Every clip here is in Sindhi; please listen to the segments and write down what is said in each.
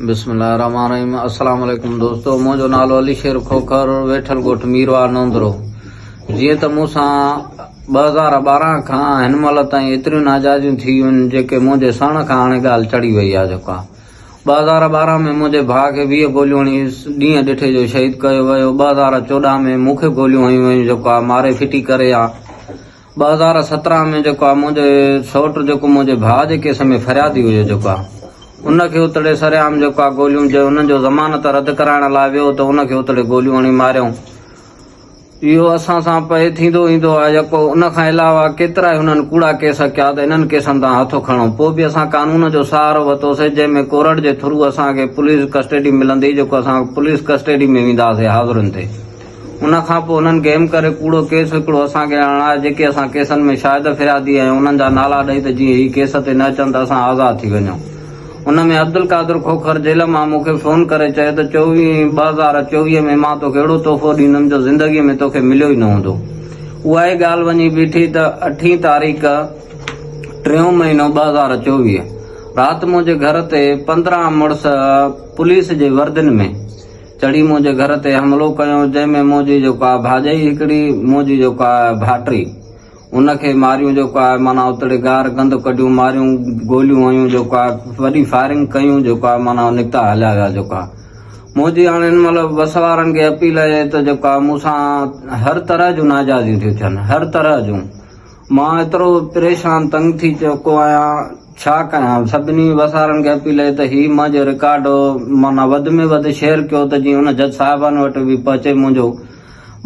بسم الله الرحمن الرحيم السلام عليڪم دوستو منهنجو نالو علي شير کوکر ويٺل ڳوٺ ميرواهه نوندرو جيئن ته مون سان ٻه هزار ٻارهن کان هن مهل تائين ايتريون ناجائزيون ٿي ويون جيڪي منهنجي سهڻ کان هاڻي ڳالهه چڙهي وئي آهي جيڪا ٻه هزار ٻارهن ۾ منهنجي ڀاء کي ويهه گوليون هڻي ڏينهن ڏٺي جو شهيد ڪيو ويو ٻه هزار چوڏهن ۾ مون کي گوليون هنيون ويون جيڪا ماري ڦٽي ڪري آ ٻه هزار سترهن ۾ جيڪو آ منهنجو سئوٽ جيڪو منهنجي ڀاء جي ڪيس ۾ فريادي هيو جيڪو آ ان کي اتڙي سرعام جيڪو آ گوليون جي انهن جو ضمانت رد ڪرائڻ لاء ويو ته ان کي اتڙي گوليون هڻي ماريائون اهو اسان سان پئي ٿيندو ايندو آ يڪو ان کان علاوه ڪيترا ئي هنن ڪوڙا ڪيس ڪيا ته انهن ڪيسن تان هٿ کڻو پوء به اسان قانون جو سهارو وتوسي جنهن ۾ ڪورٽ جي ٿرو اسان کي پوليس ڪسٽيڊي ملندي جيڪو اسان پوليس ڪسٽيڊي ۾ وينداسي حاضرين تي ان کان پوء انهن گيم ڪري ڪوڙو ڪيس هڪڙو اسان کي هڻائي جيڪي اسان ڪيسن ۾ شاهد فريادي آهيون انهن جا نالا ڏئي ته جيئن هي ڪيس تي نه اچن ته اسان آزاد ٿي وڃون ان ۾ عبدالقادر کوکر جيل مان مون کي فون ڪري چيو ته چوويهين ٻه هزار چوويهه ۾ مان توکي اهڙو تحفو ڏيندم جو زندگي ۾ توکي مليو ئي نه هوندو اها ئي ڳالهه وڃي بيٺي ته اٺين تاريخ ٽيون مهينو ٻه هزار چوويهه رات منهنجي گهر تي پندرهن مڙس پوليس جي وردين ۾ چڙهي منهنجي گهر تي حملو ڪيو، جنهن ۾ منهنجي جيڪو آهي ڀاڄائي هڪڙي، منهنجي جيڪو آهي ڀائٽي، ان کي ماريون جيڪو آهي معنيٰ اتڙي گار گند ڪڍيون، ماريون، گوليون هنيون جيڪو آهي وڏي فائرنگ ڪيون جيڪو آهي معنيٰ نڪتا هليا ويا جيڪو آهي. منهنجي هاڻ هن مهل بس وارن کي اپيل اهي ته جيڪو آهي مون سان هر طرح جون ناجائزيون ٿيون ٿين، هر طرح جون، مان ايترو پريشان تنگ ٿي چڪو آهيان، ڇا ڪيان سڀني وسارن کي اپيل اهي ته هي منهنجو رڪارڊ معنيٰ وڌ ۾ وڌ شيئر ڪيو ته جيئن ان جج صاحبان وٽ به پهچي منهنجو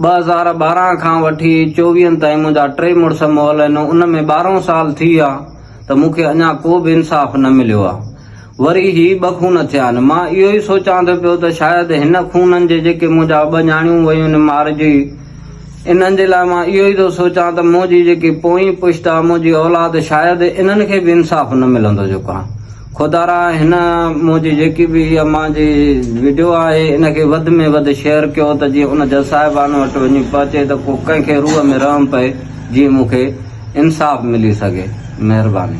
ٻه هزار ٻارهن کان وٺي چوويهن تائين منهنجا ٽي مڙس مئل آهن ان ۾ ٻارهن سال ٿي ويا ته مون کي اڃا ڪو به انصاف نه مليو آهي وري هي ٻه خون ٿيا آهن مان اهو ئي سوچان ٿو پيو ته شايد هن خونن جي جيڪي منهنجا ٻه نياڻيون ويون آهن مارجي انهن جي لاء مان اهو ئي ٿو سوچان ته مون جي جيڪي پوئين پشت آ، مون جي اولاد، شايد انهن کي به انصاف نه ملندو جو ڪان. خدارا هن مون جي جيڪي به هيء مان جي وڊيو آهي ان کي وڌ ۾ وڌ شيئر ڪيو ته جيئن ان جج صاحبان وٽ وڃي پهچي ته ڪو ڪنهن کي روح ۾ رحم پئي جيئن مون کي انصاف ملي سگهي. مهرباني.